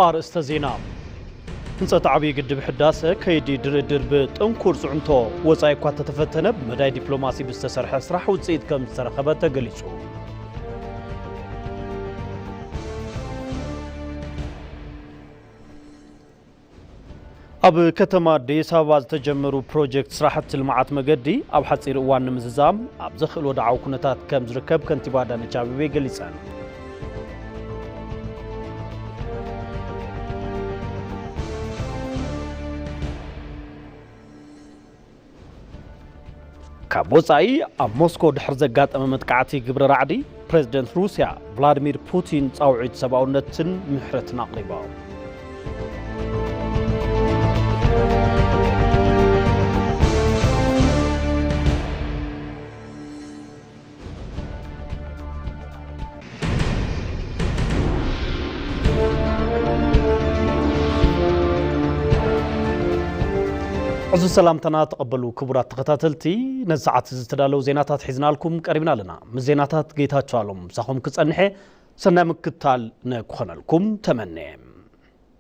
ኣርእስተ ዜና ህንፀት ዓብዪ ግድብ ሕዳሰ ከይዲ ድርድር ብጥንኩር ፅዕንቶ ወፃኢ እኳ ተተፈተነ ብመዳይ ዲፕሎማሲ ብዝተሰርሐ ስራሕ ውፅኢት ከም ዝተረኸበ ተገሊፁ። ኣብ ከተማ ኣዲስ ኣበባ ዝተጀመሩ ፕሮጀክት ስራሕቲ ልምዓት መገዲ ኣብ ሓፂር እዋን ንምዝዛም ኣብ ዘኽእል ወድዓዊ ኩነታት ከም ዝርከብ ከንቲባ ኣዳነች ኣቤቤ ገሊፀን። ካብ ወፃኢ ኣብ ሞስኮ ድሕሪ ዘጋጠመ መጥቃዕቲ ግብረ ራዕዲ ፕሬዝደንት ሩስያ ቭላድሚር ፑቲን ፃውዒት ሰብኣውነትን ምሕረትን ኣቕሪቦም። ዕዙ ሰላምታና ተቐበሉ ክቡራት ተኸታተልቲ ነዚ ሰዓት እዚ ዝተዳለዉ ዜናታት ሒዝናልኩም ቀሪብና ኣለና ምስ ዜናታት ጌታቸው ኣሎም ምሳኹም ክጸንሐ ሰናይ ምክታል ንክኾነልኩም ተመነ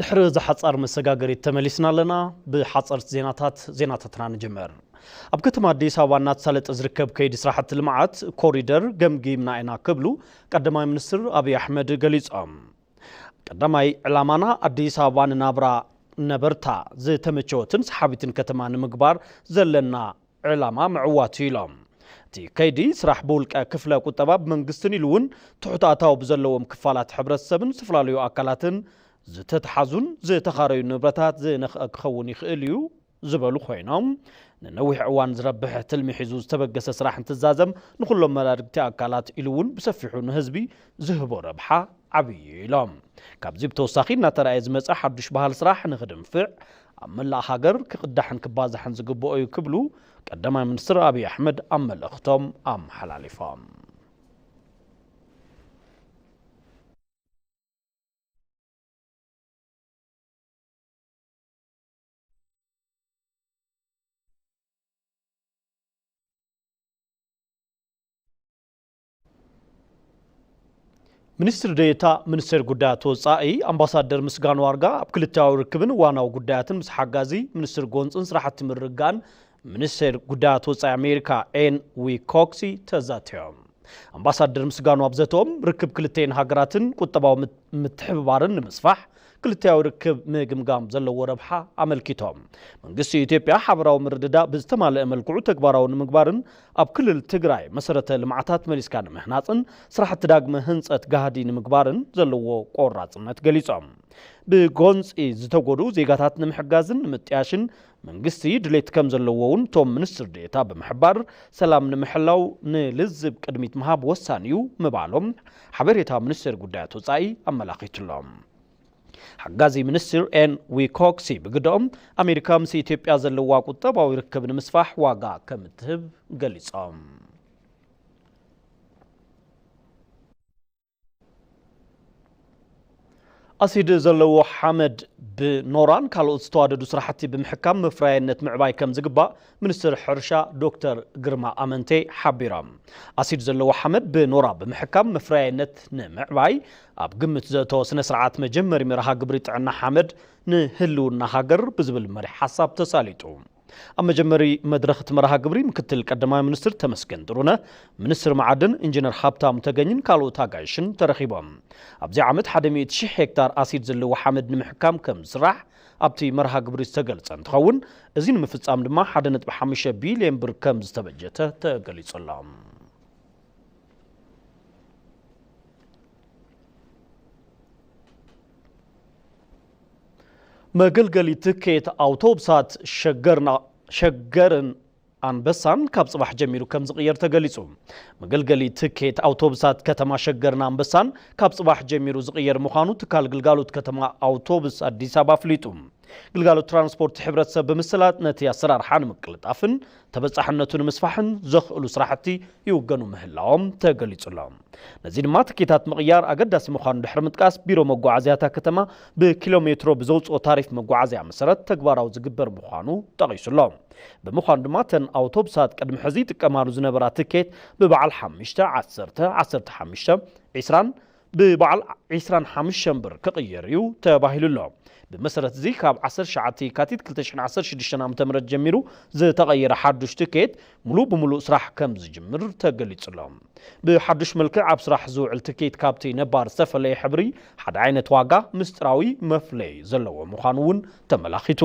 ድሕሪ እዛ ሓጻር መሰጋገሪት ተመሊስና ኣለና። ብሓጸርቲ ዜናታት ዜናታትና ንጅምር። ኣብ ከተማ ኣዲስ ኣበባ እናተሳለጠ ዝርከብ ከይዲ ስራሕቲ ልምዓት ኮሪደር ገምጊምና ኢና ክብሉ ቀዳማይ ሚኒስትር ኣብዪ ኣሕመድ ገሊፆም። ቀዳማይ ዕላማና ኣዲስ ኣበባ ንናብራ ነበርታ ዝተመቸወትን ሰሓቢትን ከተማ ንምግባር ዘለና ዕላማ ምዕዋት እዩ ኢሎም። እቲ ከይዲ ስራሕ ብውልቀ ክፍለ ቁጠባ፣ ብመንግስትን ኢሉ እውን ትሑት ኣታዊ ብዘለዎም ክፋላት ሕብረተሰብን ዝተፈላለዩ ኣካላትን ዝተትሓዙን ዝተኻረዩ ንብረታት ዝነኽአ ክኸውን ይኽእል እዩ ዝበሉ ኮይኖም፣ ንነዊሕ እዋን ዝረብሕ ትልሚ ሒዙ ዝተበገሰ ስራሕ እንትዛዘም ንኹሎም መዳርግቲ ኣካላት ኢሉ እውን ብሰፊሑ ንህዝቢ ዝህቦ ረብሓ ዓብዪ እዩ ኢሎም። ካብዚ ብተወሳኺ እናተርኣየ ዝመፀ ሓዱሽ ባህል ስራሕ ንኽድንፍዕ ኣብ መላእ ሃገር ክቕዳሕን ክባዛሕን ዝግበኦ እዩ ክብሉ ቀዳማይ ሚኒስትር ኣብዪ ኣሕመድ ኣብ መልእኽቶም ኣመሓላሊፎም። ሚኒስትር ዴኤታ ሚኒስቴር ጉዳያት ወፃኢ ኣምባሳደር ምስጋኑ ኣርጋ ኣብ ክልታዊ ርክብን ዋናዊ ጉዳያትን ምስ ሓጋዚ ሚኒስትር ጎንፅን ስራሕቲ ምርግጋእን ሚኒስቴር ጉዳያት ወፃኢ ኣሜሪካ ኤን ዊ ኮክሲ ተዛትዮም ኣምባሳደር ምስጋኑ ኣብ ዘተኦም ርክብ ክልተን ሃገራትን ቁጠባዊ ምትሕብባርን ንምስፋሕ ክልቲኣዊ ርክብ ምግምጋም ዘለዎ ረብሓ ኣመልኪቶም። መንግስቲ ኢትዮጵያ ሓበራዊ ምርድዳእ ብዝተማለኣ መልክዑ ተግባራዊ ንምግባርን ኣብ ክልል ትግራይ መሰረተ ልምዓታት መሊስካ ንምህናፅን ስራሕቲ ዳግመ ህንፀት ጋህዲ ንምግባርን ዘለዎ ቆራፅነት ገሊፆም። ብጎንፂ ዝተጎድኡ ዜጋታት ንምሕጋዝን ንምጥያሽን መንግስቲ ድሌት ከምዘለዎ እውን እቶም ሚኒስትር ዴኤታ ብምሕባር፣ ሰላም ንምሕላው ንልዝብ ቅድሚት ምሃብ ወሳኒ እዩ ምባሎም ሓበሬታ ሚኒስቴር ጉዳያት ወፃኢ ኣመላኺቱ'ሎ። ሓጋዚ ሚኒስትር ኤን ዊኮክሲ ብግደኦም፣ ኣሜሪካ ምስ ኢትዮጵያ ዘለዋ ቁጠባዊ ርክብ ንምስፋሕ ዋጋ ከምትህብ ገሊፆም። ኣሲድ ዘለዎ ሓመድ ብኖራን ካልኦት ዝተዋደዱ ስራሕቲ ብምሕካም መፍረያይነት ምዕባይ ከምዝግባእ ሚኒስትር ሕርሻ ዶክተር ግርማ ኣመንቴ ሓቢሮም። ኣሲድ ዘለዎ ሓመድ ብኖራ ብምሕካም መፍረያይነት ንምዕባይ ኣብ ግምት ዘእተወ ስነ ስርዓት መጀመሪ መርሃ ግብሪ ጥዕና ሓመድ ንህልውና ሃገር ብዝብል መሪሕ ሓሳብ ተሳሊጡ። ኣብ መጀመሪ መድረኽ እቲ መርሃ ግብሪ ምክትል ቀዳማይ ሚኒስትር ተመስገን ጥሩነህ፣ ሚኒስትር መዓድን ኢንጂነር ሃብታሙ ተገኝን ካልኦት ኣጋይሽን ተረኺቦም። ኣብዚ ዓመት ሓደ ሚእቲ ሽሕ ሄክታር ኣሲድ ዘለዎ ሓመድ ንምሕካም ከምዝስራሕ ኣብቲ መርሃ ግብሪ ዝተገልፀ እንትኸውን እዚ ንምፍፃም ድማ ሓደ ነጥቢ ሓሙሽተ ቢሊየን ብር ከምዝተበጀተ ተገሊፁ ኣሎ። መገልገሊ ትኬት ኣውቶብሳት ሸገርን ኣንበሳን ካብ ፅባሕ ጀሚሩ ከም ዝቕየር ተገሊፁ። መገልገሊ ትኬት ኣውቶብሳት ከተማ ሸገርን ኣንበሳን ካብ ፅባሕ ጀሚሩ ዝቕየር ምዃኑ ትካል ግልጋሎት ከተማ ኣውቶብስ ኣዲስ ኣበባ ኣፍሊጡ። ግልጋሎት ትራንስፖርት ሕብረተሰብ ብምስላጥ ነቲ ኣሰራርሓ ንምቅልጣፍን ተበፃሕነቱ ንምስፋሕን ዘኽእሉ ስራሕቲ ይውገኑ ምህላዎም ተገሊፁ'ሎ። ነዚ ድማ ትኬታት ምቕያር ኣገዳሲ ምዃኑ ድሕሪ ምጥቃስ ቢሮ መጓዓዝያ እታ ከተማ ብኪሎ ሜትሮ ብዘውፅኦ ታሪፍ መጓዓዝያ መሰረት ተግባራዊ ዝግበር ምዃኑ ጠቒሱ'ሎ። ብምዃኑ ድማ እተን ኣውቶብሳት ቅድሚ ሕዚ ይጥቀማሉ ዝነበራ ትኬት ብበዓል ሓሙሽተ፣ ዓሰርተ፣ ዓሰርተ ሓሙሽተ፣ ዒስራን፣ ብበዓል ዕስራን ሓምሸን ብር ክቕየር እዩ ተባሂሉ ኣሎ። ብመሰረት እዚ ካብ ዓሰርተ ትሽዓተ የካቲት ክልተ ሽሕን ዓሰርተ ሽዱሽተን ዓመተ ምህረት ጀሚሩ ዝተቐየረ ሓዱሽ ትኬት ሙሉእ ብሙሉእ ስራሕ ከምዝጅምር ተገሊፁ ኣሎ። ብሓዱሽ መልክዕ ኣብ ስራሕ ዝውዕል ትኬት ካብቲ ነባር ዝተፈለየ ሕብሪ፣ ሓደ ዓይነት ዋጋ፣ ምስጢራዊ መፍለዪ ዘለዎ ምዃኑ እውን ተመላኺቱ።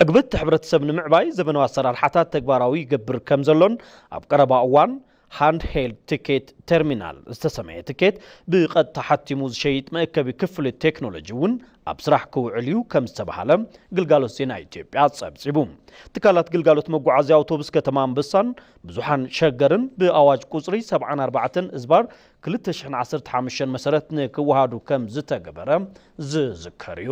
ዕግበት ሕብረተሰብ ንምዕባይ ዘበናዊ ኣሰራርሓታት ተግባራዊ ይገብር ከምዘሎን ኣብ ቀረባ እዋን ሃንድሄልድ ትኬት ተርሚናል ዝተሰመየ ትኬት ብቐጥታ ሓቲሙ ዝሸይጥ መእከቢ ክፍሊ ቴክኖሎጂ እውን ኣብ ስራሕ ክውዕል እዩ ከም ዝተብሃለ ግልጋሎት ዜና ኢትዮጵያ ፀብፂቡ። ትካላት ግልጋሎት መጓዓዝያ ኣውቶቡስ ከተማ ኣንበሳን ብዙሓን ሸገርን ብኣዋጅ ቁፅሪ ሰብዓን ኣርባዕተን እዝባር ክልተ ሽሕን ዓሰርተ ሓሙሽተን መሰረት ንክወሃዱ ከም ዝተገበረ ዝዝከር እዩ።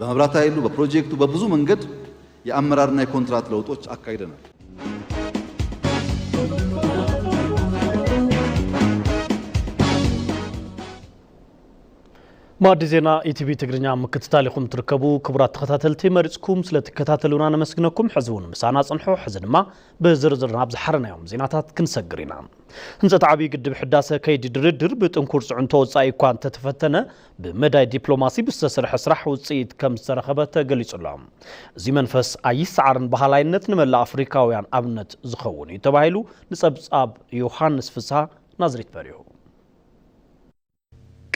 በመብራት ኃይሉ በፕሮጀክቱ በብዙ መንገድ የአመራርና የኮንትራት ለውጦች አካሂደናል። ማዕዲ ዜና ኢቲቪ ትግርኛ ምክትታል ኢኹም ትርከቡ ክቡራት ተኸታተልቲ መሪፅኩም ስለትከታተሉና ነመስግነኩም ሕዚ እውን ምሳና ፅንሑ ሕዚ ድማ ብዝርዝር ናብ ዝሓረናዮም ዜናታት ክንሰግር ኢና ህንፀት ዓብዪ ግድብ ሕዳሰ ከይዲ ድርድር ብጥንኩር ፅዕንቶ ወፃኢ እኳ እንተተፈተነ ብመዳይ ዲፕሎማሲ ብዝተሰርሐ ስራሕ ውፅኢት ከምዝተረኸበ ተገሊፁ'ሎ። እዚ መንፈስ ኣይሰዓርን በሃላይነት ንመላእ ኣፍሪካውያን ኣብነት ዝኸውን እዩ ተባሂሉ ንፀብፃብ ዮሃንስ ፍስሃ ናዝሬት በሪሁ።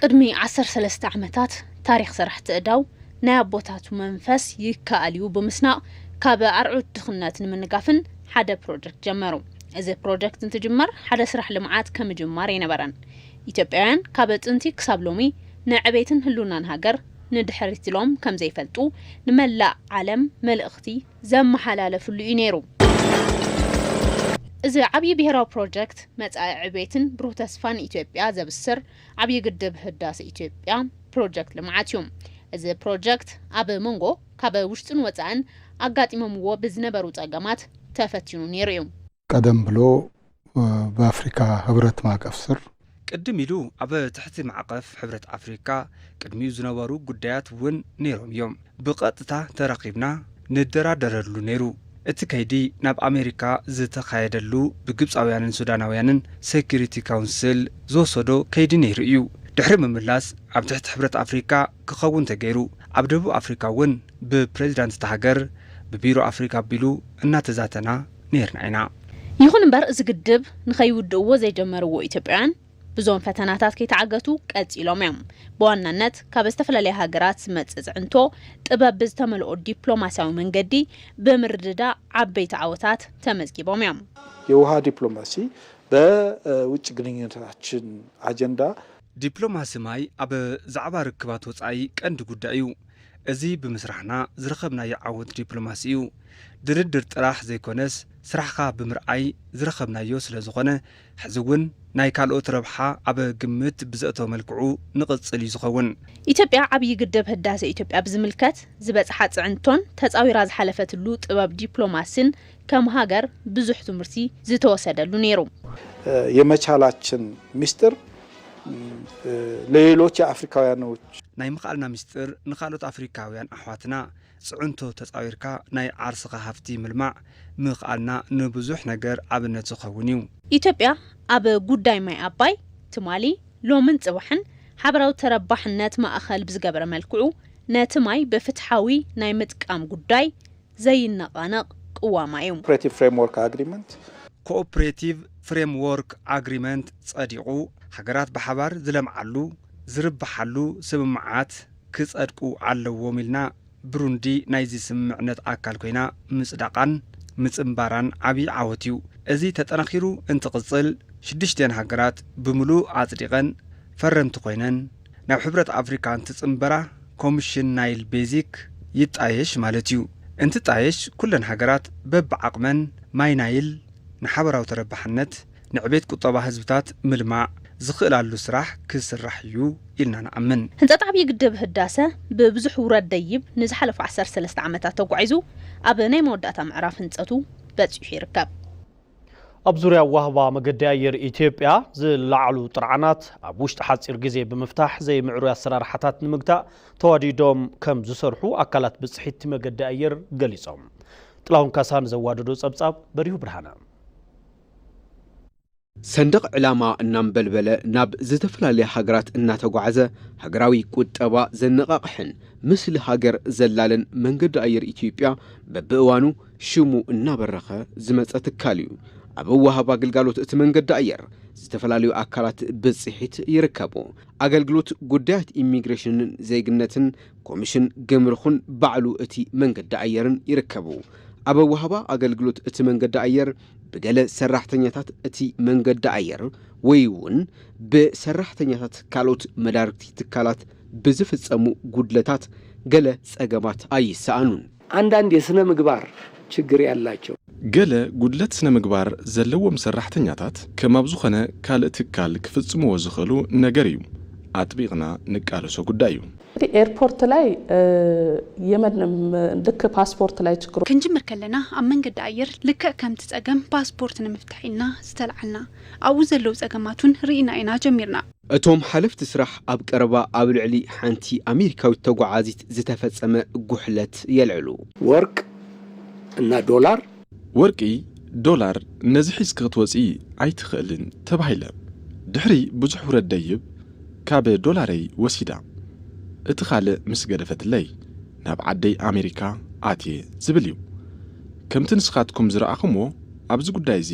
ቅድሚ ዓሰርተ ሰለስተ ዓመታት ታሪኽ ሰራሕቲ እዳው ናይ ኣቦታቱ መንፈስ ይከኣል እዩ ብምስናቕ ካብ ኣርዑት ድኽነት ንምንጋፍን ሓደ ፕሮጀክት ጀመሩ። እዚ ፕሮጀክት እንትጅመር ሓደ ስራሕ ልምዓት ከምጅማር ኣይነበረን። ኢትዮጵያውያን ካብ ጥንቲ ክሳብ ሎሚ ንዕቤትን ህልውናን ሃገር ንድሕሪት ኢሎም ከም ዘይፈልጡ ንመላእ ዓለም መልእኽቲ ዘመሓላለፍሉ እዩ ነይሩ። እዚ ዓብዪ ብሄራዊ ፕሮጀክት መፃኢ ዕቤትን ብሩህ ተስፋን ኢትዮጵያ ዘብስር ዓብዪ ግድብ ህዳሰ ኢትዮጵያ ፕሮጀክት ልምዓት እዩ። እዚ ፕሮጀክት ኣብ መንጎ ካብ ውሽጥን ወፃእን ኣጋጢሞምዎ ብዝነበሩ ፀገማት ተፈቲኑ ነይሩ እዩ። ቀደም ብሎ ብኣፍሪካ ህብረት ማእቀፍ ስር። ቅድም ኢሉ ኣብ ትሕቲ ማዕቐፍ ሕብረት ኣፍሪካ ቅድሚኡ ዝነበሩ ጉዳያት እውን ነይሮም እዮም። ብቐጥታ ተራኺብና ንደራደረሉ ነይሩ። እቲ ከይዲ ናብ ኣሜሪካ ዝተኻየደሉ ብግብፃውያንን ሱዳናውያንን ሴኩሪቲ ካውንስል ዝወሰዶ ከይዲ ነይሩ እዩ። ድሕሪ ምምላስ ኣብ ትሕቲ ሕብረት ኣፍሪካ ክኸውን ተገይሩ። ኣብ ደቡብ ኣፍሪካ እውን ብፕሬዚዳንት እታ ሃገር ብቢሮ ኣፍሪካ ኣቢሉ እናተዛተና። ኔርና ኢና። ይኹን እምበር እዚ ግድብ ንኸይውድእዎ ዘይጀመርዎ ኢትዮጵያውያን ብዞም ፈተናታት ከይተዓገቱ ቀፂሎም እዮም። ብዋናነት ካብ ዝተፈላለያ ሃገራት ዝመፅእ ፅዕንቶ ጥበብ ብዝተመልኦ ዲፕሎማሲያዊ መንገዲ ብምርድዳእ ዓበይቲ ዓወታት ተመዝጊቦም እዮም። የውሃ ዲፕሎማሲ በውጭ ግንኙነታችን ኣጀንዳ ዲፕሎማሲ ማይ ኣብ ዛዕባ ርክባት ወጻኢ ቀንዲ ጉዳይ እዩ። እዚ ብምስራሕና ዝረኸብናዮ ዓወት ዲፕሎማሲ እዩ። ድርድር ጥራሕ ዘይኮነስ ስራሕኻ ብምርኣይ ዝረኸብናዮ ስለዝኾነ ሕዚ ውን ናይ ካልኦት ረብሓ ኣብ ግምት ብዘእተወ መልክዑ ንቕጽል እዩ ዝኸውን። ኢትዮጵያ ዓብዪ ግድብ ህዳሰ ኢትዮጵያ ብዝምልከት ዝበፅሓ ፅዕንቶን ተፃዊራ ዝሓለፈትሉ ጥበብ ዲፕሎማሲን ከም ሃገር ብዙሕ ትምህርቲ ዝተወሰደሉ ነይሩ። የመቻላችን ሚስጥር ለሌሎች የኣፍሪካውያኖች። ናይ ምኽኣልና ሚስጥር ንካልኦት ኣፍሪካውያን ኣሕዋትና ፅዕንቶ ተፃዊርካ ናይ ዓርስኻ ሃፍቲ ምልማዕ ምኽኣልና ንብዙሕ ነገር ኣብነት ዝኸውን እዩ። ኢትዮጵያ ኣብ ጉዳይ ማይ ኣባይ ትማሊ፣ ሎምን ፅባሕን ሓበራዊ ተረባሕነት ማእኸል ብዝገበረ መልክዑ ነቲ ማይ ብፍትሓዊ ናይ ምጥቃም ጉዳይ ዘይነቓነቕ ቅዋማ እዩ። ፕሬቲቭ ፍሬምዎርክ ኣግሪመንት። ኮኦፕሬቲቭ ፍሬምዎርክ ኣግሪመንት ጸዲቑ ሃገራት ብሓባር ዝለምዓሉ፣ ዝርብሓሉ ስምምዓት ክጸድቁ ኣለዎም ኢልና ብሩንዲ ናይዚ ስምምዕነት ኣካል ኮይና ምጽዳቓን ምጽንባራን ዓቢ ዓወት እዩ። እዚ ተጠናኺሩ እንትቕጽል ሽዱሽቲኣን ሃገራት ብምሉእ ኣጽዲቐን ፈረምቲ ኮይነን፣ ናብ ሕብረት ኣፍሪካ እንትፅምበራ ኮምሽን ናይል ቤዚክ ይጣየሽ ማለት እዩ። እንትጣየሽ ኩለን ሃገራት በቢዓቕመን ማይ ናይል ንሓበራዊ ተረባሕነት፣ ንዕቤት ቁጠባ ህዝብታት ምልማዕ ዝኽእላሉ ስራሕ ክስራሕ እዩ ኢልና ንኣምን። ህንፀት ዓብዪ ግድብ ህዳሰ ብብዙሕ ውረድ ደይብ ንዝሓለፉ ዓሰርተ ሰለስተ ዓመታት ተጓዒዙ ኣብ ናይ መወዳእታ ምዕራፍ ህንፀቱ በፂሑ ይርከብ። ኣብ ዙርያ ኣዋህባ መገዲ ኣየር ኢትዮጵያ ዝለዓሉ ጥርዓናት ኣብ ውሽጢ ሓፂር ግዜ ብምፍታሕ ዘይምዕሩይ ኣሰራርሓታት ንምግታእ ተዋዲዶም ከም ዝሰርሑ ኣካላት ብፅሒትቲ መገዲ ኣየር ገሊፆም። ጥላሁን ካሳ ንዘዋደዶ ፀብፃብ በሪሁ ብርሃነ። ሰንደቕ ዕላማ እናንበልበለ ናብ ዝተፈላለያ ሃገራት እናተጓዕዘ ሃገራዊ ቁጠባ ዘነቓቕሕን ምስሊ ሃገር ዘላልን መንገዲ ኣየር ኢትዮጵያ በብእዋኑ ሽሙ እናበረኸ ዝመፀ ትካል እዩ። ኣብ ኣወሃህባ ግልጋሎት እቲ መንገዲ ኣየር ዝተፈላለዩ ኣካላት ብፅሒት ይርከቡ። ኣገልግሎት ጉዳያት ኢሚግሬሽንን ዜግነትን፣ ኮሚሽን ግምርኹን ባዕሉ እቲ መንገዲ ኣየርን ይርከቡ። ኣብ ኣወሃህባ ኣገልግሎት እቲ መንገዲ ኣየር ብገለ ሰራሕተኛታት እቲ መንገዲ ኣየር ወይ እውን ብሰራሕተኛታት ካልኦት መዳርግቲ ትካላት ብዝፍፀሙ ጉድለታት ገለ ፀገማት ኣይሰኣኑን። ኣንዳንድ የስነ ምግባር ችግር ያላቸው። ገለ ጉድለት ስነ ምግባር ዘለዎም ሰራሕተኛታት ከም ኣብ ዝኾነ ካልእ ትካል ክፍጽምዎ ዝኽእሉ ነገር እዩ። ኣጥቢቕና ንቃለሶ ጉዳይ እዩ። እንግዲህ ኤርፖርት ላይ የመን ልክ ፓስፖርት ላይ ችግሮች። ክንጅምር ከለና ኣብ መንገዲ ኣየር ልክዕ ከምቲ ጸገም ፓስፖርት ንምፍታሕ ኢልና ዝተልዓልና ኣብኡ ዘለዉ ጸገማት ውን ርኢና ኢና ጀሚርና። እቶም ሓለፍቲ ስራሕ ኣብ ቀረባ ኣብ ልዕሊ ሓንቲ ኣሜሪካዊት ተጓዓዚት ዝተፈጸመ ጉሕለት የልዕሉ። ወርቅ እና ዶላር። ወርቂ፣ ዶላር ነዚ ሒዝኪ ክትወጺ ኣይትኽእልን ተባሂለ። ድሕሪ ብዙሕ ውረድ ደይብ ካብ ዶላረይ ወሲዳ። እቲ ካልእ ምስ ገደፈትለይ ናብ ዓደይ ኣሜሪካ ኣትየ ዝብል እዩ። ከምቲ ንስኻትኩም ዝረኣኹምዎ ኣብዚ ጉዳይ እዚ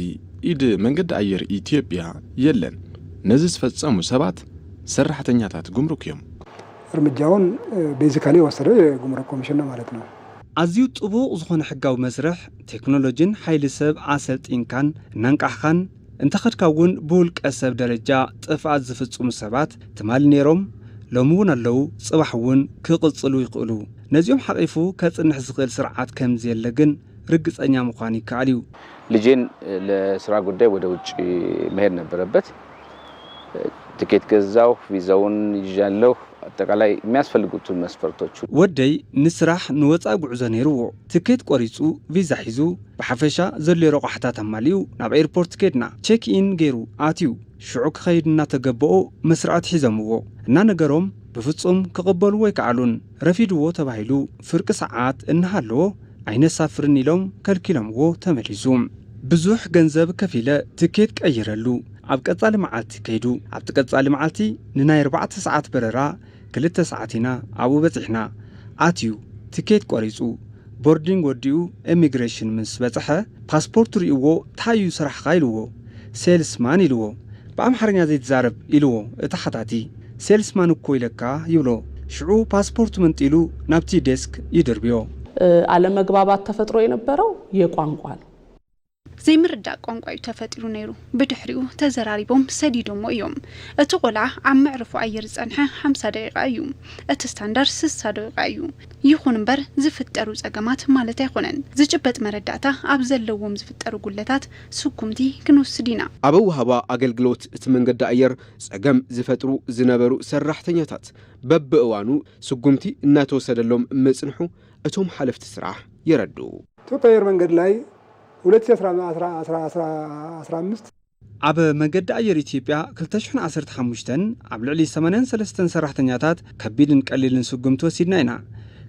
ኢድ መንገዲ ኣየር ኢትዮጵያ የለን፣ ነዚ ዝፈፀሙ ሰባት ሰራሕተኛታት ጉምሩክ እዮም። እርምጃውን ቤዚካሊ የወሰደ የጉምሩክ ኮሚሽን ነው ማለት ነው። ኣዝዩ ጥቡቕ ዝኾነ ሕጋዊ መስርሕ፣ ቴክኖሎጂን ሓይሊ ሰብ ኣሰልጢንካን እናንቃሕኻን እንተኸድካ እውን ብውልቀ ሰብ ደረጃ ጥፍኣት ዝፍፅሙ ሰባት ትማሊ ነይሮም፣ ሎሚ እውን ኣለዉ፣ ፅባሕ እውን ክቕፅሉ ይኽእሉ። ነዚኦም ሓቒፉ ከፅንሕ ዝኽእል ስርዓት ከምዘየለ ግን ርግጸኛ ምዃን ይከኣል እዩ። ልጄን ለስራ ጉዳይ ወደ ውጪ መሄድ ነበረበት። ትኬት ገዛሁ፣ ቪዛውን ይዣለሁ፣ ኣጠቃላይ የሚያስፈልጉትን መስፈርቶች ሁሉ። ወደይ ንስራሕ ንወጻኢ ጉዕዞ ነይርዎ። ትኬት ቆሪጹ፣ ቪዛ ሒዙ፣ ብሓፈሻ ዘድልዮ ረቋሕታት ኣማሊኡ ናብ ኤርፖርት ከድና። ቼክ ኢን ገይሩ ኣትዩ። ሽዑ ክኸይድ እናተገበኦ መስርዕት ሒዞምዎ። እናነገሮም ብፍጹም ክቕበልዎ ኣይከኣሉን። ረፊድዎ ተባሂሉ ፍርቂ ሰዓት እናሃለዎ፣ ኣይነሳፍርን ኢሎም ከልኪሎምዎ ተመሊሱ። ብዙሕ ገንዘብ ከፊለ ትኬት ቀይረሉ ኣብ ቀጻሊ መዓልቲ ከይዱ። ኣብቲ ቀጻሊ መዓልቲ ንናይ ኣርባዕተ ሰዓት በረራ ክልተ ሰዓት ኢና ኣብኡ በጺሕና። ኣትዩ ትኬት ቆሪጹ ቦርዲንግ ወዲኡ ኤሚግሬሽን ምስ በጽሐ ፓስፖርቱ ሪኡዎ ታይ እዩ ስራሕኻ ኢሉዎ ሴልስ ማን ኢሉዎ ብኣምሓርኛ ዘይትዛረብ ኢሉዎ እቲ ሓታቲ። ሴልስ ማን እኮ ኢለካ ይብሎ ሽዑ ፓስፖርቱ መንጢሉ ናብቲ ዴስክ ይድርብዮ። ኣለመግባባት ተፈጥሮ የነበረው የቋንቋ ነው። ዘይምርዳእ ቋንቋ እዩ ተፈጢሩ ነይሩ። ብድሕሪኡ ተዘራሪቦም ሰዲዶሞ እዮም። እቲ ቆልዓ ኣብ መዕርፎ ኣየር ዝጸንሐ ሓምሳ ደቂቓ እዩ። እቲ ስታንዳር ስሳ ደቂቓ እዩ። ይኹን እምበር ዝፍጠሩ ጸገማት ማለት ኣይኮነን። ዝጭበጥ መረዳእታ ኣብ ዘለዎም ዝፍጠሩ ጉድለታት ስጉምቲ ክንወስድ ኢና። ኣብ ኣወሃህባ ኣገልግሎት እቲ መንገዲ ኣየር ጸገም ዝፈጥሩ ዝነበሩ ሰራሕተኛታት በብእዋኑ ስጉምቲ እናተወሰደሎም ምጽንሑ እቶም ሓለፍቲ ስራሕ የረድኡ። ኢትዮጵያ ኣየር መንገድ ላይ ሁለት ሺ ኣስራ ኣስራ ኣስራ ኣስራ ኣምስት። ኣብ መገዲ ኣየር ኢትዮጵያ ክልተ ሽሕን ዓሰርተ ሓሙሽተን ኣብ ልዕሊ ሰማንያን ሰለስተን ሰራሕተኛታት ከቢድን ቀሊልን ስጉምቲ ወሲድና ኢና።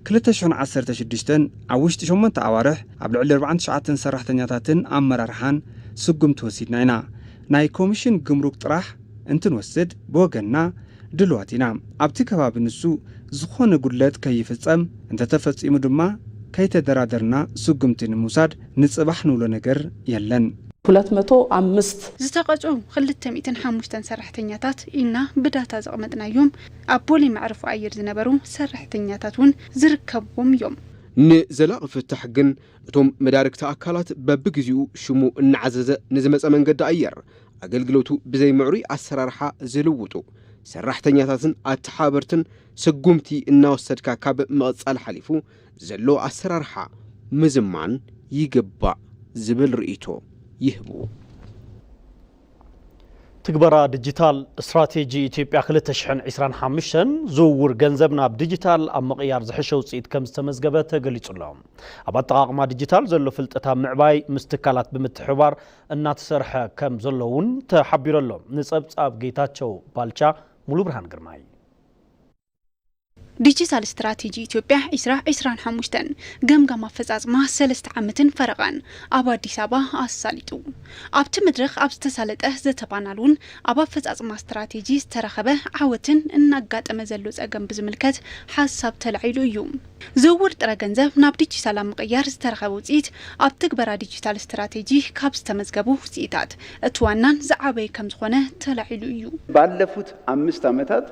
ክልተ ሽሕን ዓሰርተ ሽዱሽተን ኣብ ውሽጢ ሸሞንተ ኣዋርሕ ኣብ ልዕሊ ኣርብዓን ትሽዓተን ሰራሕተኛታትን ኣመራርሓን ስጉምቲ ወሲድና ኢና። ናይ ኮሚሽን ግምሩክ ጥራሕ እንትንወስድ ብወገንና ድሉዋት ኢና። ኣብቲ ከባቢ ንሱ ዝኾነ ጉድለት ከይፍፀም፣ እንተተፈፂሙ ድማ ከይተደራደርና ስጉምቲ ንምውሳድ ንፅባሕ ንብሎ ነገር የለን። ሁለት መቶ ኣምስት። ዝተቐፅዑ ክልተ ሚእትን ሓሙሽተን ሰራሕተኛታት ኢልና ብዳታ ዘቕመጥናዮም ኣብ ቦሌ መዕርፎ ኣየር ዝነበሩ ሰራሕተኛታት እውን ዝርከብዎም እዮም። ንዘላቒ ፍታሕ ግን እቶም መዳርግቲ ኣካላት በብግዜኡ ሽሙ እናዓዘዘ ንዝመፀ መንገዲ ኣየር ኣገልግሎቱ ብዘይ ምዕሩይ ኣሰራርሓ ዝልውጡ ሰራሕተኛታትን ኣተሓባበርትን ስጉምቲ እናወሰድካ ካብ ምቕፃል ሓሊፉ ዘሎ ኣሰራርሓ ምዝማን ይግባእ ዝብል ርኢቶ ይህቡ። ትግበራ ዲጂታል ስትራቴጂ ኢትዮጵያ ክልተ ሽሕን ዒስራን ሓሙሽተን ዝውውር ገንዘብ ናብ ዲጂታል ኣብ ምቕያር ዝሐሸ ውፅኢት ከም ዝተመዝገበ ተገሊፁ ኣሎ። ኣብ ኣጠቓቕማ ዲጂታል ዘሎ ፍልጠት ኣብ ምዕባይ ምስ ትካላት ብምትሕብባር እናተሰርሐ ከም ዘሎ እውን ተሓቢሩ ኣሎ። ንፀብፃብ ጌታቸው ባልቻ ሙሉብርሃን ግርማይ። ዲጂታል ስትራቴጂ ኢትዮጵያ ዕስራ ዕስራን ሓሙሽተን ገምጋም ኣፈፃፅማ ሰለስተ ዓመትን ፈረቓን ኣብ ኣዲስ ኣበባ ኣሳሊጡ። ኣብቲ መድረኽ ኣብ ዝተሳለጠ ዘተ ፓናል እውን ኣብ ኣፈፃፅማ ስትራቴጂ ዝተረኸበ ዓወትን እናጋጠመ ዘሎ ፀገም ብዝምልከት ሓሳብ ተላዒሉ እዩ። ዝውውር ጥረ ገንዘብ ናብ ዲጂታል ኣብ ምቕያር ዝተረኸበ ውፅኢት ኣብ ትግበራ ዲጂታል ስትራቴጂ ካብ ዝተመዝገቡ ውፅኢታት እቲ ዋናን ዝዓበየ ከምዝኾነ ተላዒሉ እዩ። ባለፉት ኣምስት ዓመታት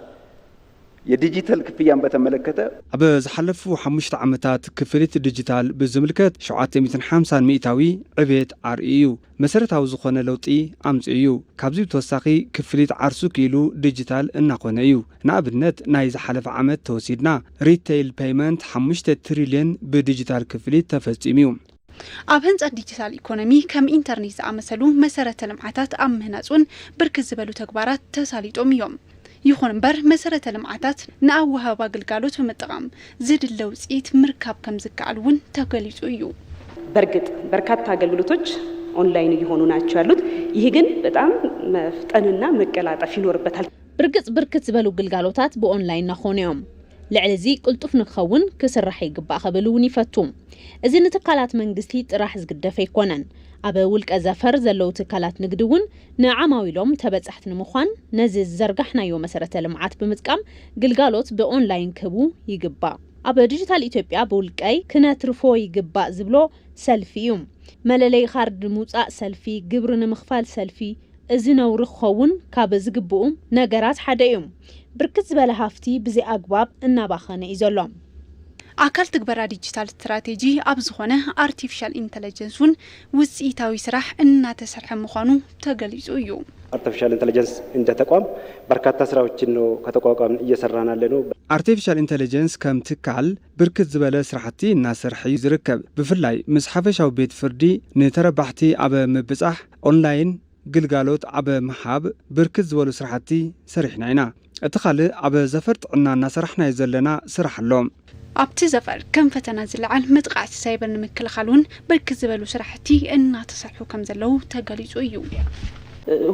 የዲጂተል ክፍያን በተመለከተ፣ ኣብ ዝሓለፉ ሓሙሽተ ዓመታት ክፍሊት ዲጂታል ብዝምልከት ሸውዓተ ሚእትን ሓምሳን ሚእታዊ ዕቤት ኣርእዩ እዩ። መሰረታዊ ዝኾነ ለውጢ ኣምፂኡ እዩ። ካብዚ ብተወሳኺ ክፍሊት ዓርሱ ክኢሉ ዲጂታል እናኾነ እዩ። ንኣብነት ናይ ዝሓለፈ ዓመት ተወሲድና ሪተይል ፔይመንት ሓሙሽተ ትሪልየን ብዲጂታል ክፍሊት ተፈፂሙ እዩ። ኣብ ህንፀት ዲጂታል ኢኮኖሚ ከም ኢንተርኔት ዝኣመሰሉ መሰረተ ልምዓታት ኣብ ምህናፅ እውን ብርክት ዝበሉ ተግባራት ተሳሊጦም እዮም። ይኹን እምበር መሰረተ ልምዓታት ንኣወሃህባ ግልጋሎት ብምጥቓም ዝድለ ውፅኢት ምርካብ ከምዝከኣል እውን ተገሊፁ እዩ። በርግጥ በርካታ ኣገልግሎቶች ኦንላይን እየሆኑ ናቸው ያሉት ይህ ግን በጣም መፍጠን እና መቀላጠፍ ይኖርበታል። ብርግፅ ብርክት ዝበሉ ግልጋሎታት ብኦንላይን ናኾኑ እዮም። ልዕሊ እዚ ቅልጡፍ ንክኸውን ክስራሕ ይግባእ ክብል እውን ይፈቱ። እዚ ንትካላት መንግስቲ ጥራሕ ዝግደፍ ኣይኮነን። ኣብ ውልቀ ዘፈር ዘለዉ ትካላት ንግዲ እውን ንዓማዊሎም ተበፃሕቲ ንምዃን ነዚ ዝዘርጋሕናዮ መሰረተ ልምዓት ብምጥቃም ግልጋሎት ብኦንላይን ክህቡ ይግባእ። ኣብ ዲጂታል ኢትዮጵያ ብውልቀይ ክነትርፎ ይግባእ ዝብሎ ሰልፊ እዩ። መለለዪ ካርድ ንምውፃእ ሰልፊ፣ ግብሪ ንምኽፋል ሰልፊ፣ እዚ ነውሪ ክኸውን ካብ ዝግብኡ ነገራት ሓደ እዩ። ብርክት ዝበለ ሃፍቲ ብዘይ ኣግባብ እናባኸነ እዩ ዘሎ። ኣካል ትግበራ ዲጂታል ስትራቴጂ ኣብ ዝኾነ ኣርቲፊሻል ኢንተለጀንስ እውን ውፅኢታዊ ስራሕ እናተሰርሐ ምዃኑ ተገሊፁ እዩ። ኣርቲፊሻል ኢንተለጀንስ እንደ ተቋም በርካታ ስራዎችን ነው ከተቋቋምን እየሰራን ያለነው። ኣርቲፊሻል ኢንተለጀንስ ከም ትካል ብርክት ዝበለ ስራሕቲ እናሰርሐ እዩ ዝርከብ። ብፍላይ ምስ ሓፈሻዊ ቤት ፍርዲ ንተረባሕቲ ኣብ ምብፃሕ ኦንላይን፣ ግልጋሎት ኣብ ምሃብ ብርክት ዝበሉ ስራሕቲ ሰሪሕና ኢና። እቲ ካልእ ኣብ ዘፈር ጥዕና እናሰራሕናዮ ዘለና ስራሕ ኣሎ። ኣብቲ ዘፈር ከም ፈተና ዝለዓል መጥቓዕቲ ሳይበር ንምክልኻል እውን ብርክት ዝበሉ ስራሕቲ እናተሰርሑ ከምዘለዉ ተገሊፁ እዩ።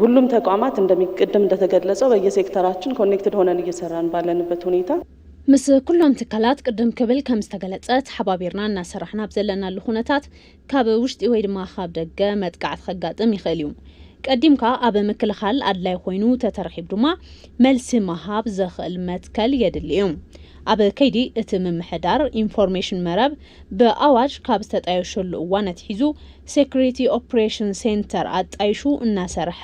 ሁሉም ተቋማት እንደሚ ቅድም እንደተገለፀው በየሴክተራችን ኮኔክትድ ሆነን እየሰራን ባለንበት ሁኔታ፣ ምስ ኩሎም ትካላት ቅድም ክብል ከምዝተገለፀ ተሓባቢርና እናሰራሕና ኣብ ዘለናሉ ኩነታት ካብ ውሽጢ ወይ ድማ ካብ ደገ መጥቃዕቲ ከጋጥም ይኽእል እዩ። ቀዲምካ ኣብ ምክልኻል ኣድላይ ኮይኑ ተተረኺቡ ድማ መልሲ ምሃብ ዘኽእል መትከል የድሊ እዩ። ኣብ ከይዲ እቲ ምምሕዳር ኢንፎርሜሽን መረብ ብኣዋጅ ካብ ዝተጣየሸሉ እዋን ኣትሒዙ ሴኩሪቲ ኦፕሬሽን ሴንተር ኣጣይሹ እናሰርሐ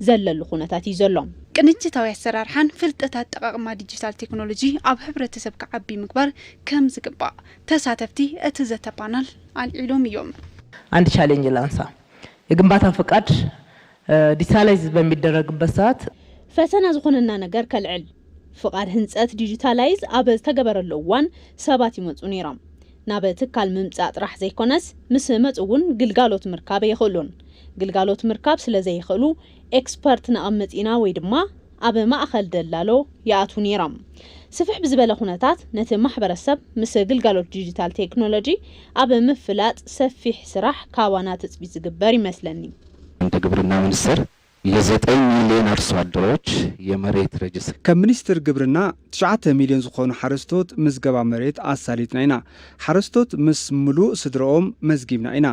ዘለሉ ኩነታት እዩ ዘሎ። ቅንጅታዊ ኣሰራርሓን ፍልጠት ኣጠቓቕማ ዲጂታል ቴክኖሎጂ ኣብ ሕብረተሰብ ክዓቢ ምግባር ከምዝግባእ ተሳተፍቲ እቲ ዘተ ፓናል ኣልዒሎም እዮም። አንድ ቻሌንጅ ላንሳ የግንባታ ፍቃድ ዲጂታላይዝ በሚደረግበት ሰዓት። ፈተና ዝኾነና ነገር ከልዕል። ፍቃድ ህንፀት ዲጂታላይዝ ኣብ ዝተገበረሉ እዋን ሰባት ይመፁ ነይሮም። ናብ ትካል ምምፃእ ጥራሕ ዘይኮነስ ምስ መፁ እውን ግልጋሎት ምርካብ ኣይኽእሉን። ግልጋሎት ምርካብ ስለዘይኽእሉ ኤክስፐርት ነቐምጥ ኢና ወይ ድማ። ኣብ ማእኸል ደላሎ ይኣትዉ ነይሮም። ስፍሕ ብዝበለ ኩነታት ነቲ ማሕበረሰብ ምስ ግልጋሎት ዲጂታል ቴክኖሎጂ ኣብ ምፍላጥ ሰፊሕ ስራሕ ካባና ትፅቢት ዝግበር ይመስለኒ። እንደ ግብርና ሚኒስቴር ለዘጠኝ ሚሊየን ኣርሶ ኣደሮች የመሬት ረጅስትር። ከም ሚኒስቴር ግብርና ትሽዓተ ሚሊዮን ዝኾኑ ሓረስቶት ምዝገባ መሬት ኣሳሊጥና ኢና። ሓረስቶት ምስ ምሉእ ስድረኦም መዝጊብና ኢና።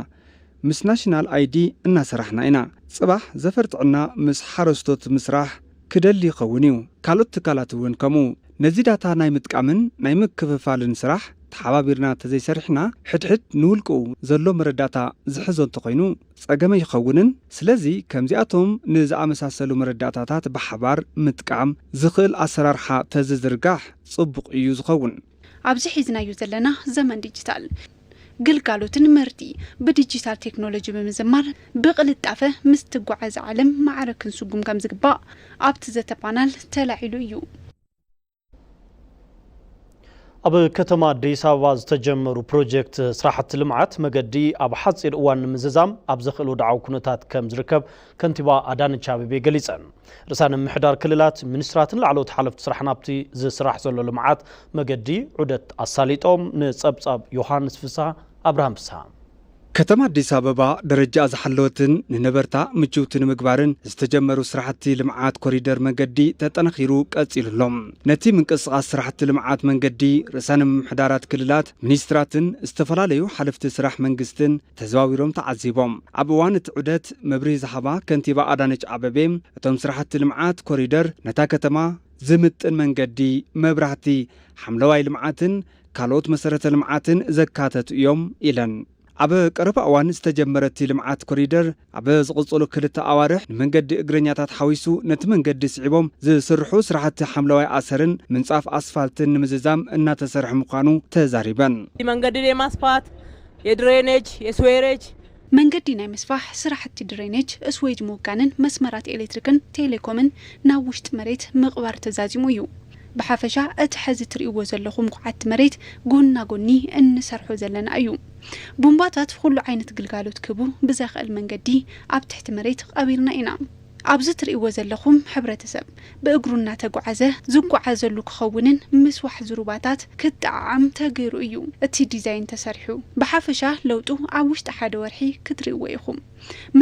ምስ ናሽናል ኣይዲ እናሰራሕና ኢና። ፅባሕ ዘፈር ጥዕና ምስ ሓረስቶት ምስራሕ ክደሊ ይኸውን እዩ፣ ካልኦት ትካላት እውን ከምኡ። ነዚ ዳታ ናይ ምጥቃምን ናይ ምክፍፋልን ስራሕ ተሓባቢርና ተዘይሰሪሕና ሕድሕድ ንውልቅኡ ዘሎ መረዳእታ ዝሕዞ እንተኾይኑ ፀገመ ይኸውንን። ስለዚ ከምዚኣቶም ንዝኣመሳሰሉ መረዳእታታት ብሓባር ምጥቃም ዝኽእል ኣሰራርሓ ተዝዝርጋሕ ፅቡቕ እዩ ዝኸውን። ኣብዚ ሒዝናዮ ዘለና ዘመን ዲጂታል፣ ግልጋሎትን ምህርቲ ብዲጂታል ቴክኖሎጂ ብምዝማር ብቕልጣፈ ምስ ትጓዓዝ ዓለም ማዕረ ክንስጉም ከምዝግባእ ኣብቲ ዘተ ፓናል ተላዒሉ እዩ። ኣብ ከተማ ኣዲስ ኣበባ ዝተጀመሩ ፕሮጀክት ስራሕቲ ልምዓት መገዲ ኣብ ሓፂር እዋን ንምዝዛም ኣብ ዘኽእል ወድዓዊ ኩነታት ከም ዝርከብ ከንቲባ ኣዳነች ኣቤቤ ገሊፀን። ርእሳ ንምምሕዳር ክልላት፣ ሚኒስትራትን ላዕለዎት ሓለፍቲ ስራሕ ናብቲ ዝስራሕ ዘሎ ልምዓት መገዲ ዑደት ኣሳሊጦም፣ ንፀብፃብ ዮሃንስ ፍስሃ ኣብርሃም ፍስሃ። ከተማ ኣዲስ ኣበባ ደረጅኣ ዝሓለወትን ንነበርታ ምችውቲ ንምግባርን ዝተጀመሩ ስራሕቲ ልምዓት ኮሪደር መንገዲ ተጠናኺሩ ቀፂሉ ኣሎ። ነቲ ምንቅስቓስ ስራሕቲ ልምዓት መንገዲ ርእሳነ ምምሕዳራት ክልላት፣ ሚኒስትራትን ዝተፈላለዩ ሓለፍቲ ስራሕ መንግስትን፣ ተዘዋዊሮም ተዓዚቦም። ኣብ እዋን እቲ ዑደት መብርሂ ዝሃባ ከንቲባ ኣዳነች ኣበቤ፣ እቶም ስራሕቲ ልምዓት ኮሪደር ነታ ከተማ ዝምጥን መንገዲ፣ መብራህቲ፣ ሓምለዋይ ልምዓትን ካልኦት መሰረተ ልምዓትን ዘካተቱ ኢዮም ኢለን። ኣብ ቀረባ እዋን ዝተጀመረ እቲ ልምዓት ኮሪደር፣ ኣብ ዝቕፅሉ ክልተ ኣዋርሕ ንመንገዲ እግረኛታት ሓዊሱ ነቲ መንገዲ ስዒቦም ዝስርሑ ስራሕቲ ሓምለዋይ ኣሰርን ምንፃፍ ኣስፋልትን ንምዝዛም እናተሰርሐ ምዃኑ ተዛሪበን። መንገድን የማስፋት፣ የድሬኔጅ፣ የስዌሬጅ፣ መንገዲ ናይ ምስፋሕ ስራሕቲ ድሬኔጅ፣ እስዌጅ ምውጋንን መስመራት ኤሌክትሪክን ቴሌኮምን ናብ ውሽጢ መሬት ምቕባር ተዛዚሙ እዩ። ብሓፈሻ እቲ ሐዚ ትርእይዎ ዘለኹም ኹዓቲ መሬት ጎና ጎኒ እንሰርሖ ዘለና እዩ። ቡምባታት ኹሉ ዓይነት ግልጋሎት ክህቡ ብዘኽእል መንገዲ ኣብ ትሕቲ መሬት ቐቢርና ኢና። ኣብዚ ትርእይዎ ዘለኹም ሕብረተሰብ ብእግሩ እናተጉዓዘ ዝጉዓዘሉ ክኸውንን ምስ ዋሕዚ ሩባታት ክጠዓዓም ተገይሩ እዩ እቲ ዲዛይን ተሰሪሑ። ብሓፈሻ ለውጡ ኣብ ውሽጢ ሓደ ወርሒ ክትርእይዎ ኢኹም።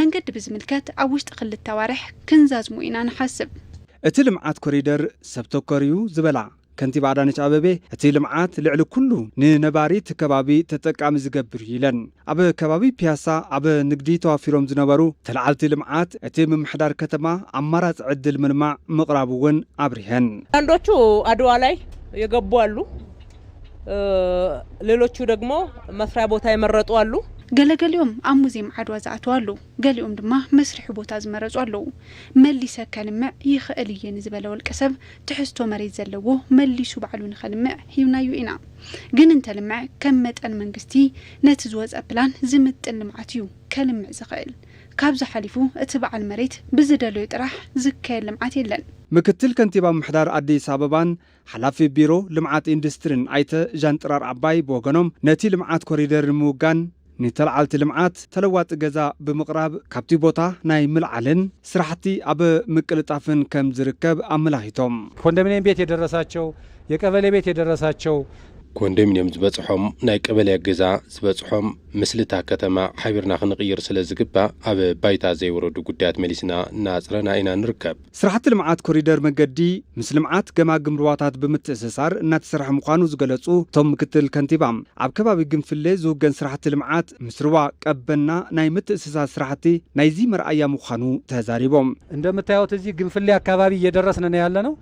መንገዲ ብዝምልከት ኣብ ውሽጢ ክልተ ኣዋርሕ ክንዛዝሞ ኢና ንሓስብ። እቲ ልምዓት ኮሪደር ሰብ ተኮር እዩ ዝበላ ከንቲባ ኣዳነች ኣበቤ እቲ ልምዓት ልዕሊ ኩሉ ንነባሪ እቲ ከባቢ ተጠቃሚ ዝገብር እዩ ኢለን። ኣብ ከባቢ ፒያሳ ኣብ ንግዲ ተዋፊሮም ዝነበሩ ተለዓልቲ ልምዓት እቲ ምምሕዳር ከተማ ኣማራፂ ዕድል ምልማዕ ምቕራቡ እውን ኣብሪሀን። አንዳንዶቹ አድዋ ላይ የገቡ አሉ ሌሎቹ ደግሞ መስሪያ ቦታ የመረጡ አሉ። ገለ ገሊኦም ኣብ ሙዜም ዓድዋ ዝኣተው ኣለው፣ ገሊኦም ድማ መስርሒ ቦታ ዝመረፁ ኣለው። መሊሰ ከልምዕ ይኽእል እየ ንዝበለ ወልቀሰብ ትሕዝቶ መሬት ዘለዎ መሊሱ ባዕሉ ንኸልምዕ ሂብናዮ ኢና። ግን እንተልምዐ ከም መጠን መንግስቲ ነቲ ዝወፀ ፕላን ዝምጥን ልምዓት እዩ ከልምዕ ዝኽእል። ካብዚ ሓሊፉ እቲ በዓል መሬት ብዝደለዮ ጥራሕ ዝካየድ ልምዓት የለን። ምክትል ከንቲባ ምምሕዳር ኣዲስ ኣበባን ሓላፊ ቢሮ ልምዓት ኢንዱስትሪን ኣይተ ዣንጥራር ኣባይ ብወገኖም ነቲ ልምዓት ኮሪደር ንምውጋን፣ ንተልዓልቲ ልምዓት ተለዋጢ ገዛ ብምቕራብ ካብቲ ቦታ ናይ ምልዓልን ስራሕቲ ኣብ ምቅልጣፍን ከም ዝርከብ ኣመላኺቶም። ኮንደሚንየም ቤት የደረሳቸው፣ የቀበሌ ቤት የደረሳቸው፣ ኮንደሚንየም ዝበፅሖም ናይ ቀበሌ ገዛ ዝበፅሖም ምስሊ እታ ከተማ ሓቢርና ክንቕይር ስለ ዝግባእ ኣብ ባይታ ዘይወረዱ ጉዳያት መሊስና እናኣፅረና ኢና ንርከብ። ስራሕቲ ልምዓት ኮሪደር መገዲ ምስ ልምዓት ገማግም ሩባታት ብምትእስሳር እናተሰርሐ ምዃኑ ዝገለፁ እቶም ምክትል ከንቲባ፣ ኣብ ከባቢ ግንፍሌ ዝውገን ስራሕቲ ልምዓት ምስ ሩባ ቀበና ናይ ምትእስሳር ስራሕቲ ናይዚ መርኣያ ምዃኑ ተዛሪቦም። እንደምታዩት እዚ ግንፍሌ ኣካባቢ እየደረስን ነው ያለነው።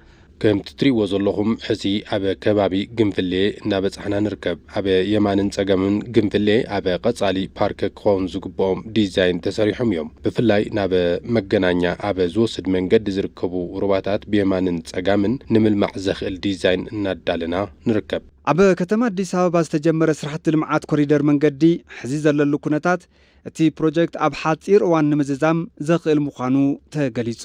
ከምቲ ትሪእዎ ዘለኹም ሕዚ ኣብ ከባቢ ግንፍሌ እናበፃሕና ንርከብ። ኣብ የማንን ጸገምን ግንፍሌ ኣብ ቐጻሊ ፓርክ ክኾን ዝግብኦም ዲዛይን ተሰሪሖም እዮም። ብፍላይ ናብ መገናኛ ኣብ ዝወስድ መንገዲ ዝርከቡ ሩባታት ብየማንን ጸጋምን ንምልማዕ ዘኽእል ዲዛይን እናዳለና ንርከብ። ኣብ ከተማ ኣዲስ ኣበባ ዝተጀመረ ስራሕቲ ልምዓት ኮሪደር መንገዲ ሕዚ ዘለሉ ኩነታት እቲ ፕሮጀክት ኣብ ሓፂር እዋን ንምዝዛም ዘኽእል ምዃኑ ተገሊፁ።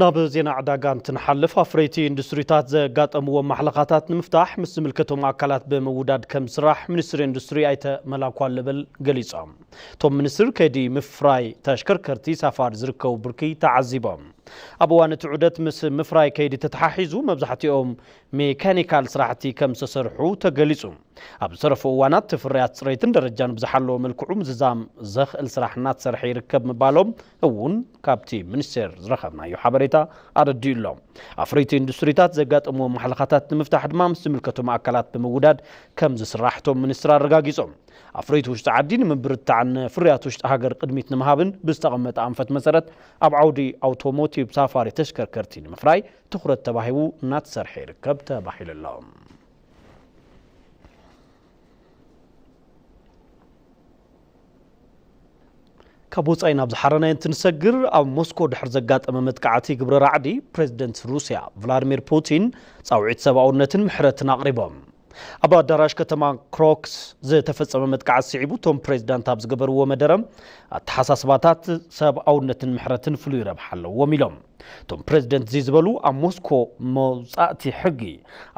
ናብ ዜና ዕዳጋ እንትንሓልፍ ኣፍረይቲ ኢንዱስትሪታት ዘጋጠምዎም ማሕለኻታት ንምፍታሕ ምስ ዝምልከቶም ኣካላት ብምውዳድ ከም ዝስራሕ ሚኒስትሪ ኢንዱስትሪ ኣይተ መላኩ ኣለበል ገሊፆም። እቶም ሚኒስትር ከይዲ ምፍራይ ተሽከርከርቲ ሳፋሪ ዝርከቡ ብርኪ ተዓዚቦም። ኣብ እዋን እቲ ዑደት ምስ ምፍራይ ከይዲ ተተሓሒዙ መብዛሕትኦም ሜካኒካል ስራሕቲ ከም ዝተሰርሑ ተገሊፁ። ኣብ ዝተረፉ እዋናት እቲ ፍርያት ፅሬትን ደረጃን ብዝሓለወ መልክዑ ምዝዛም ዘኽእል ስራሕ እናተሰርሐ ይርከብ ምባሎም እውን ካብቲ ሚኒስቴር ዝረኸብናዮ ሓበሬታ ኣረዲኡ ኣሎ። ኣፍረይቲ ኢንዱስትሪታት ዘጋጠምዎም ማሕለኻታት ንምፍታሕ ድማ ምስ ዝምልከቶም ኣካላት ብምውዳድ ከምዝስራሕ እቶም ሚኒስትር ኣረጋጊፆም። ኣፍረይቲ ውሽጢ ዓዲ ንምብርታዕን ንፍርያት ውሽጢ ሃገር ቅድሚት ንምሃብን ብዝተቐመጠ ኣንፈት መሰረት ኣብ ዓውዲ ኣውቶሞቲቭ ሳፋሪ ተሽከርከርቲ ንምፍራይ ትኹረት ተባሂቡ እናተሰርሐ ይርከብ ተባሂሉ ኣሎ። ካብ ወፃኢ ናብ ዝሓረናዮ እንትንሰግር ኣብ ሞስኮ ድሕር ዘጋጠመ መጥቃዕቲ ግብረ ራዕዲ ፕሬዚደንት ሩስያ ቭላድሚር ፑቲን ፃውዒት ሰብኣውነትን ምሕረትን ኣቕሪቦም። ኣብ ኣዳራሽ ከተማ ክሮክስ ዝተፈፀመ መጥቃዕቲ ስዒቡ እቶም ፕሬዚዳንት ኣብ ዝገበርዎ መደረ ኣተሓሳስባታት ሰብኣውነትን ምሕረትን ፍሉይ ረብሓ ኣለዎም ኢሎም። እቶም ፕረዚደንት እዚ ዝበሉ ኣብ ሞስኮ መውጻእቲ ሕጊ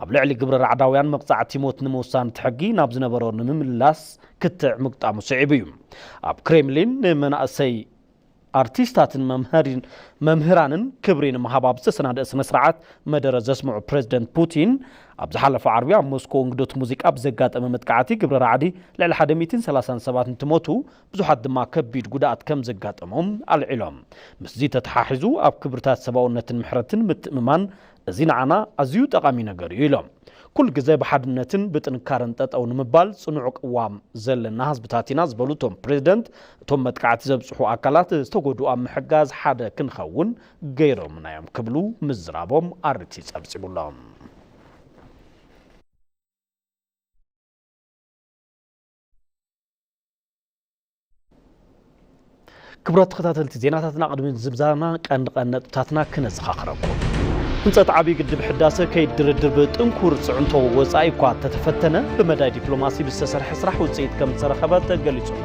ኣብ ልዕሊ ግብረ ራዕዳውያን መቕጻዕቲ ሞት ንምውሳን እቲ ሕጊ ናብ ዝነበሮ ንምምላስ ክትዕ ምግጣሙ ስዒቡ እዩ። ኣብ ክሬምሊን ንመናእሰይ ኣርቲስታትን መምህራንን ክብሪ ንምሃብ ኣብ ዝተሰናደኣ ስነ ስርዓት መደረ ዘስምዑ ፕረዚደንት ፑቲን ኣብ ዝሓለፈ ዓርቢ ኣብ ሞስኮ እንግዶት ሙዚቃ ብዘጋጠመ መጥቃዕቲ ግብረ ራዕዲ ልዕሊ ሓደ ሚእትን ሰላሳን ሰባት እንትሞቱ ብዙሓት ድማ ከቢድ ጉድኣት ከም ዘጋጠሞም ኣልዒሎም። ምስዚ ተተሓሒዙ ኣብ ክብርታት ሰብኣውነትን ምሕረትን ምትእምማን፣ እዚ ንዓና ኣዝዩ ጠቓሚ ነገር እዩ ኢሎም። ኩል ግዘ ብሓድነትን ብጥንካረን ጠጠው ንምባል ፅኑዕ ቅዋም ዘለና ህዝብታት ኢና ዝበሉ እቶም ፕሬዝደንት፣ እቶም መጥቃዕቲ ዘብፅሑ ኣካላት ዝተጎድኡ ኣብ ምሕጋዝ ሓደ ክንኸውን ገይሮምና እዮም ክብሉ ምዝራቦም ኣሪቲ ፀብፂቡ ኣሎ። ክብራት ተኸታተልቲ ዜናታትና ቅድሚ ዝብዛና ቀንዲ ቀንዲ ነጥብታትና ክነዘኻኽረኩም ህንፀት ዓብዪ ግድብ ሕዳሰ ከይድ ድርድር ብጥንኩር ፅዕንቶ ወፃኢ እኳ ተተፈተነ ብመዳይ ዲፕሎማሲ ብዝተሰርሐ ስራሕ ውፅኢት ከም ዝተረኸበ ተገሊፁና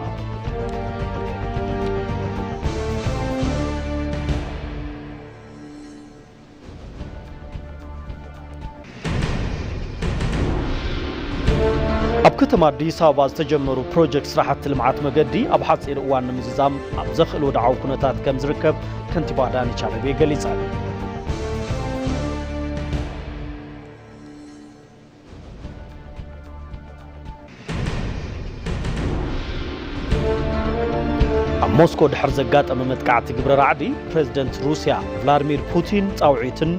ኣብ ከተማ ኣዲስ ኣበባ ዝተጀመሩ ፕሮጀክት ስራሕቲ ልምዓት መገዲ ኣብ ሓፂር እዋን ንምዝዛም ኣብ ዘኽእል ወድዓዊ ኩነታት ከም ዝርከብ ከንቲባ ኣዳነች ኣቤቤ ገሊፀን። ኣብ ሞስኮ ድሕር ዘጋጠመ መጥቃዕቲ ግብረ ራዕዲ ፕሬዝደንት ሩስያ ቭላድሚር ፑቲን ጻውዒትን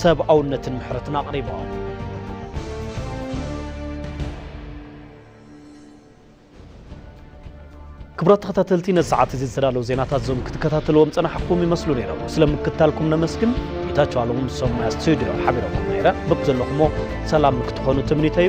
ሰብኣውነትን ምሕረትን ኣቕሪቦም። ክቡራት ተኸታተልቲ ነዚ ሰዓት እዚ ዝተዳለዉ ዜናታት እዞም ክትከታተልዎም ጸናሕኩም ይመስሉ ነይሮም። ስለ ምክትታልኩም ነመስግን። ጌታቸው ኣለሙ ምስ ሰሙያ ስቱድዮ ሓቢረኩም ነይረ። በብዘለኹሞ ሰላም ክትኾኑ ትምኒተዩ።